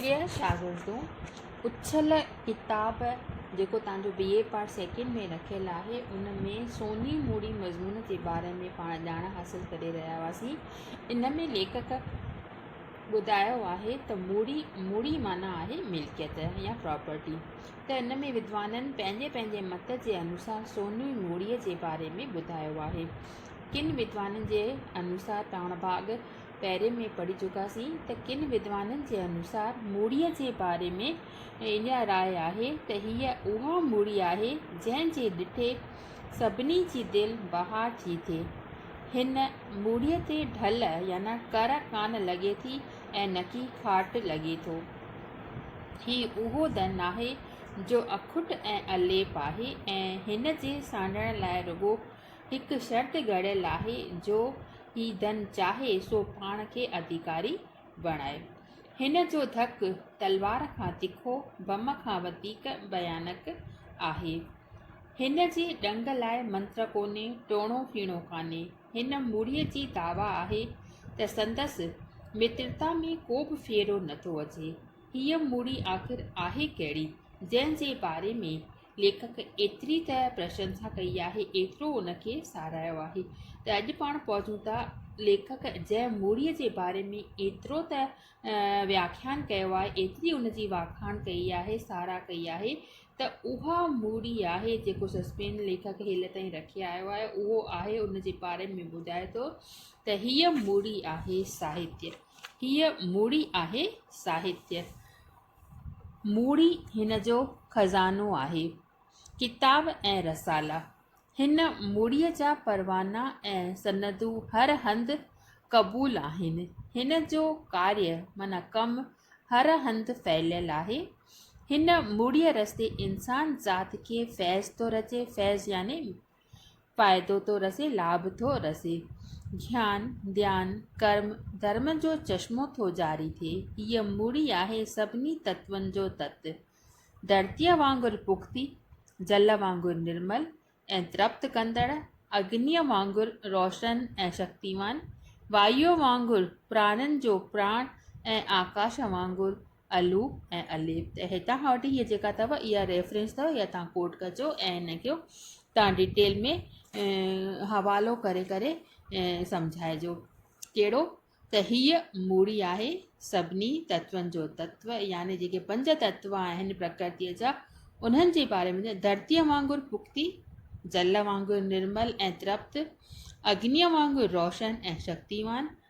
پريا شاگردون اڇل ڪتاب جيڪو توهان جو بي اي پارٽ سيڪنڊ ۾ رکيل آهي ان ۾ سوني موڙي مضمون جي باري ۾ پاڻ ڄاڻ حاصل ڪري رهيا هئاسين ان ۾ ليکڪ ٻڌايو آهي ته موڙي موڙي معنيٰ آهي ملڪيت يا پراپرٽي ته ان ۾ ودوانن پنهنجي پنهنجي مت جي انوسار سوني موڙي جي باري ۾ ٻڌايو آهي ڪن ودوانن جي انوسار پاڻ ڀاڳ پهرين ۾ پڙهي چڪاسين ته ڪن ودوانن جي انوسار مڙيء جي باري ۾ اها راء آهي ته هيء اها مڙي آهي جنهن جي ڏٺي سڀني جي دل بهار ٿي ٿئي. هن مڙيء تي ڍل يعني ڪر ڪانه لڳي ٿي ۽ نڪي کاٽ لڳي ٿو. هي اهو ڌن ناهي جو اکٽ ۽ اليپ آهي ۽ هن جي سانڍڻ لاء رڳو هڪ شرط گهڙيل آهي جو هي ڌن چاهي سو پاڻ کي اڌيڪاري بڻائي. هن جو ڌڪ تلوار کان تکو، بم کان وڌيڪ ڀيانڪ آهي. هن جي ڏنگ لاء منتر ڪونهي، ٽوڻو ڦيڻو ڪانهي. هن مڙهيء جي دعويٰ آهي ته سندس مترتا ۾ ڪوبه ڦيرو نٿو اچي. هيء مڙهي آخر آهي ڪهڙي، جنهن جي باري ۾ ليکڪ ايتري ته پرشنسا ڪئي آهي، ايترو ان کي ساراهيو آهي ته اڄ پاڻ پهچون ٿا. ليکڪ جنهن موڙيء جي باري ۾ ايترو ته وياکيان ڪيو آهي، ايتري ان جي واکاڻ ڪئي آهي، ساراهه ڪئي آهي ته اها موڙي آهي، جيڪو سسپين ليکڪ هيل تائين رکي آيو آهي، اهو آهي ان جي باري ۾ ٻڌائي ٿو ته هيء موڙي آهي ساهتيه، هيء موڙي آهي ساهتيه. مڙئي هن جو خزانو آهي. ڪتاب ۽ رسالا، هن مڙئي جا پروانا ۽ سندون هر هنڌ قبول آهن. هن جو ڪاري معنيٰ ڪم هر هنڌ ڦهليل آهي. هن مڙئي رستي انسان ذات کي فيض ٿو رچي، فيض يعني فائدو ٿو رسي لاڀ ٿو رسي. گيان، ڌيان، ڪرم، ڌرم جو چشمو ٿو جاري ٿئي. هيء مڙي آهي سڀني تتون جو تت. ڌرتيء وانگر پختي، جل وانگر نرمل ۽ ترپت ڪندڙ، اگنيء وانگر روشن ۽ شڪتيوان، وايوء وانگر پراڻن جو پراڻ ۽ آڪاش وانگر الو ۽ الف ته هتان کان وٺي هي جيڪا اٿو اها ريفرنس اٿو اها تان ڪوٽ ڪجو ۽ ان کي تان ڊيٽيل ۾ حوالو ڪري ڪري سمجهائجو ڪهڙو ته هيء موڙي آهي سڀني تتون جو تتو يعني جيڪي پنج تتو آهن پرڪرتيء جا انهن جي باري ۾ ڌرتيء وانگر پختي جل وانگر نرمل ۽ ترپت اگنيء وانگر روشن ۽ شڪتيوان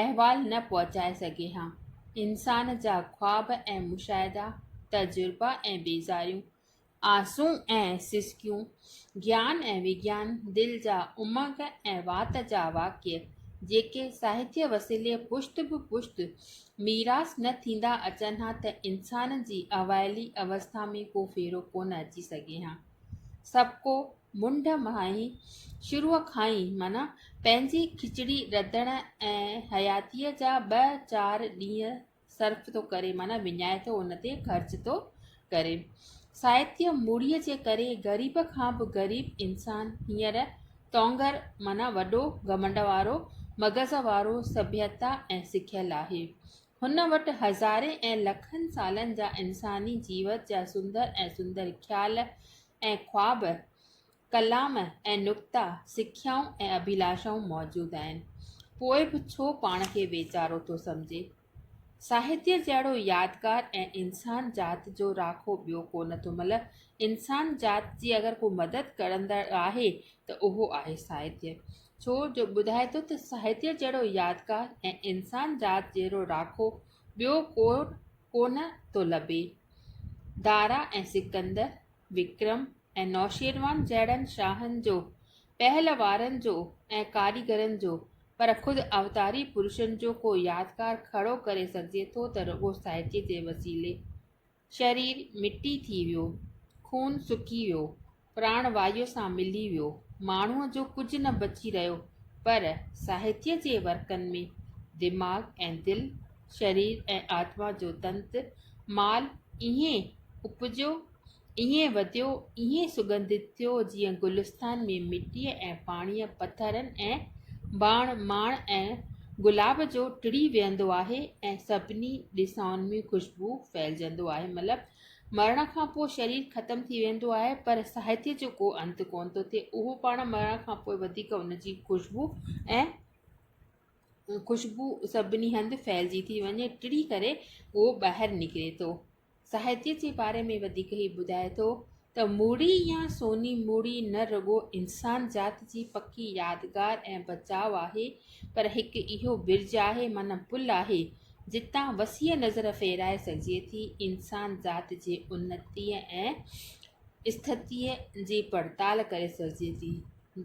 احوال نه پهچائي سگهي ها. انسان جا خواب ۽ مشاهدا، تجربا ۽ بيزاريون، آسون ۽ سسڪيون، گيان ۽ وگيان، دل جا امنگ ۽ وات جا واقعي، جيڪي ساهتيه وسيلي پشت به پشت ميراث نه ٿيندا اچن ها ته انسان جي اوائلي اوسٿا ۾ ڪو ڦيرو ڪونه اچي سگهي ها. سڀڪو منڍ ماهي شروع کان ئي معنيٰ پنهنجي کچڙي رڌڻ ۽ حياتيء جا ٻه چار ڏينهن صرف ٿو ڪري معنيٰ وڃائي ٿو ان تي خرچ ٿو ڪري. سائتيء مڙهيء جي ڪري غريب کان به غريب انسان هينئر تونگر معنيٰ وڏو گهمنڊ وارو مغز وارو سڀيتا ۽ سکيل آهي. هن وٽ هزارين ۽ لکن سالن جا انساني جيوت جا سندر ۽ سندر خيال ۽ خواب، ڪلام ۽ نڪتا، سکيائون ۽ اڀيلاشائون موجود آهن. پوء به ڇو پاڻ کي ويچارو ٿو سمجهي؟ ساهتيه جهڙو يادگار ۽ انسان ذات جو راکو ٻيو ڪو نه ٿو ملهه. انسان ذات جي اگر ڪو مدد ڪرندڙ آهي ته اهو آهي ساهتيه. ڇو جو ٻڌائي ٿو ته ساهتيه جهڙو يادگار ۽ انسان ذات جهڙو راکو ٻيو ڪو ڪونه ٿو لڀي. دارا ۽ سڪندر، وڪرم ۽ نوشيروان جهڙن شاهن جو، پهلوارن جو ۽ ڪاريگرن جو پر خود اوتاري پرشن جو ڪو يادگار کڙو ڪري سگهجي ٿو ته رڳو ساهتيه جي وسيلي. شرير مٽي ٿي ويو، خون سڪي ويو، پراڻ وايو سان ملي ويو، ماڻهوء جو ڪجهه نه بچي رهيو، پر ساهتيه جي ورقن ۾ دماغ ۽ دل، شرير ۽ آتما جو تنت مال ائين اپجيو، ائين وڌيو، ائين سڳنڌت ٿيو جيئن گلستان ۾ مٽيء ۽ پاڻيء، پٿرن ۽ باڻ، ماڻ ۽ گلاب جو ٽڙي ويهندو آهي ۽ سڀني ڏسائن ۾ خوشبو ڦهلجندو آهي. مطلب مرڻ کان پوء شرير ختم ٿي ويندو آهي پر ساهتيه جو ڪو انت ڪونه ٿو ٿئي. اهو پاڻ مرڻ کان پوء وڌيڪ ان جي خوشبو ۽ خوشبو سڀني هنڌ ڦهلجي ٿي وڃي ٽڙي ڪري اهو ٻاهر نڪري ٿو. ساهتيه جي باري ۾ وڌيڪ هي ٻڌائي ٿو ته موڙي يا سوني موڙي نه رڳو انسان ذات جي پڪي يادگار ۽ بچاء آهي پر هڪ اهو برج آهي معنيٰ پل آهي جتان وسيع نظر ڦيرائي سگهجي ٿي انسان ذات جي انتيء ۽ اسٿتيء جي پڙتال ڪري سگهجي ٿي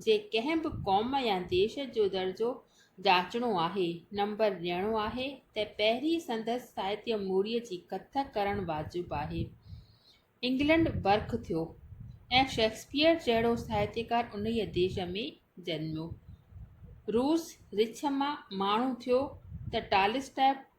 جي ڪنهن به قوم يا ديش جو درجو جاچڻو آهي، نمبر ڏيڻو آهي ته پهرين سندس ساهتيه موريء جي ڪٿ ڪرڻ واجب آهي. انگلنڊ برک ٿيو ۽ شيڪسپيئر جهڙو ساهتيڪار انهيء ديش ۾ جنميو. روس رڇ مان ماڻهو ٿيو ته ٽالسٽاء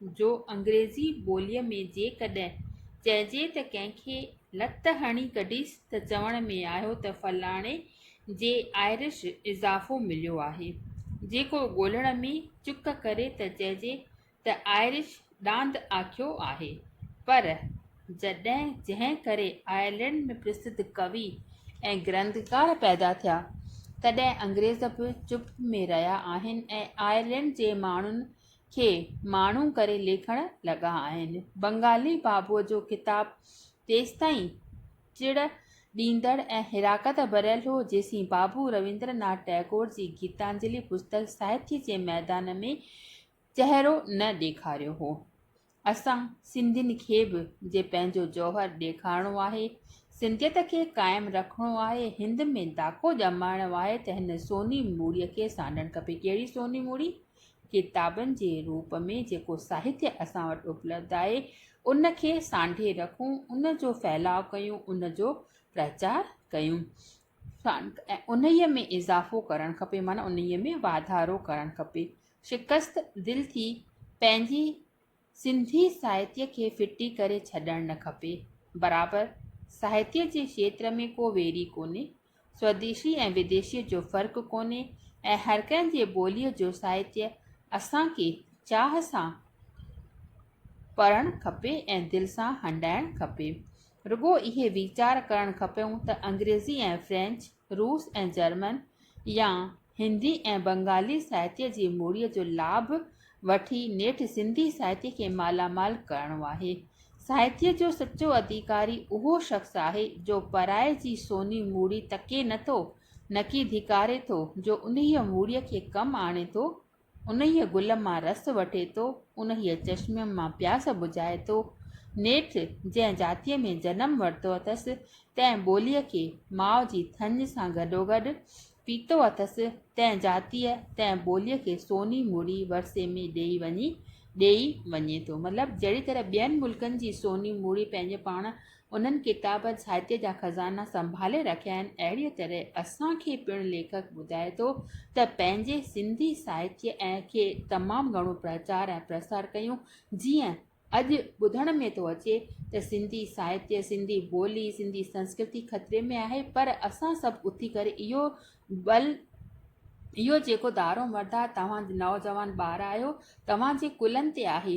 جو انگريزي ٻوليء ۾ جيڪڏهن چئجي ته ڪنهن کي لت هڻي ڪڍيس ته چوڻ ۾ آيو ته فلاڻي جي آئرش اضافو مليو آهي جيڪو ڳولڻ ۾ چڪ ڪري ته چئجي ته آئرش ڏاند آکيو آهي پر جنهن ڪري آئرلينڊ ۾ پرسڌ ڪوي ۽ گرنٿڪار پيدا ٿيا تڏهن انگريز به چپ ۾ رهيا آهن ۽ آئرلينڊ جي ماڻهن کي ماڻهو ڪري ليکڻ لڳا آهن. بنگالي بابوء جو ڪتاب تيستائين چڙ ڏيندڙ ۽ حراقت ڀريل هو، جيسين بابو رويندر ناٿ ٽئگور جي گيتانجلي پستڪ ساهتيه جي ميدان ۾ چهرو نه ڏيکاريو هو. اسان سنڌين کي به جي پنهنجو جوهر ڏيکارڻو آهي، سنڌيت کي قائم رکڻو آهي، هند ۾ داکو ڄمائڻو آهي ته هن سوني موڙي کي سانڍڻ کپي. ڪهڙي سوني موڙي؟ ڪتابن جي روپ ۾ جيڪو ساهتيه اسان وٽ اپلبڌ آهي، ان کي سانڍي رکون، ان جو ڦهلاء ڪيون، ان جو پرچار ڪيون ۽ انهيء ۾ اضافو ڪرڻ کپي معنيٰ انهيء ۾ واڌارو ڪرڻ کپي. شڪست دل ٿي پنهنجي سنڌي ساهتيه کي ڦٽي ڪري ڇڏڻ نه کپي. برابر ساهتيه جي کيتر ۾ ڪو ويري ڪونهي. سوديشي ۽ وديشي جو فرق ڪونهي ۽ هر ڪنهن جي ٻوليء جو ساهتيه اسان کي چاهه سان پڙهڻ کپي ۽ دل سان هنڊائڻ کپي. رڳو اهي ويچار ڪرڻ کپيون ته انگريزي ۽ فرينچ، روس ۽ جرمن يا هندي ۽ بنگالي ساهتيه جي موڙيء جو لاڀ وٺي نيٺ سنڌي ساهتيه کي مالا مال ڪرڻو آهي. ساهتيه جو سچو اڌيڪاري اهو شخص آهي جو پرائي جي سوني موڙي تڪي نه ٿو نڪي ڌڪاري ٿو جو انهيء موڙيء کي ڪم آڻي ٿو انهيء گل مان رس وٺي ٿو، انهيء چشمي مان پياس بجهائي ٿو. نيٺ جنهن جاتيء ۾ جنم ورتو اٿس، تنهن ٻوليء کي ماء جي ٿڃ سان گڏوگڏ پيتو اٿس، تنهن جاتيء، تنهن ٻوليء کي سوني مڙي ورثي ۾ ڏيئي وڃي، ڏيئي وڃي ٿو. مطلب جهڙي طرح ٻين ملڪن جي سوني مڙي پنهنجي پاڻ انهن ڪتابن ساهتيه جا خزانا سنڀالي رکيا آهن. اهڙيء طرح اسان کي پڻ ليکڪ ٻڌائي ٿو ته پنهنجي سنڌي ساهتيه ۽ کي تمام گهڻو پرچار ۽ پرسار ڪيون جيئن اڄ ٻڌڻ ۾ ٿو اچي ته سنڌي ساهتيه، سنڌي ٻولي، سنڌي سنسڪرتي خطري ۾ آهي پر اسان سڀ اٿي ڪري اهو بل اهو جيڪو دارومدار توهان نوجوان ٻار آهيو توهان جي ڪلهن تي آهي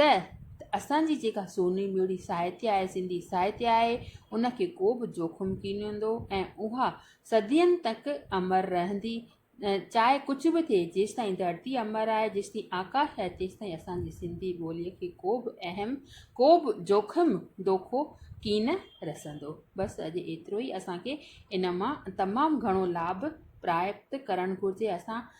ته اسان جي جيڪا سوني ميڙي ساهتيه آهي، سنڌي ساهتيه آهي، ان کي ڪو به جوکم ڪين هوندو ۽ اها صدين تڪ امر رهندي، چاهي ڪجهه به ٿئي، جيستائين ڌرتي امر آهي، جيستائين آڪاش آهي، تيستائين اسان جي سنڌي ٻوليء کي ڪو به اهم، ڪو به جوکم، دوکو ڪين رسندو. بس اڄ ايترو ئي اسان کي ان مان تمام گهڻو لاڀ پراپت ڪرڻ گهرجي. اسان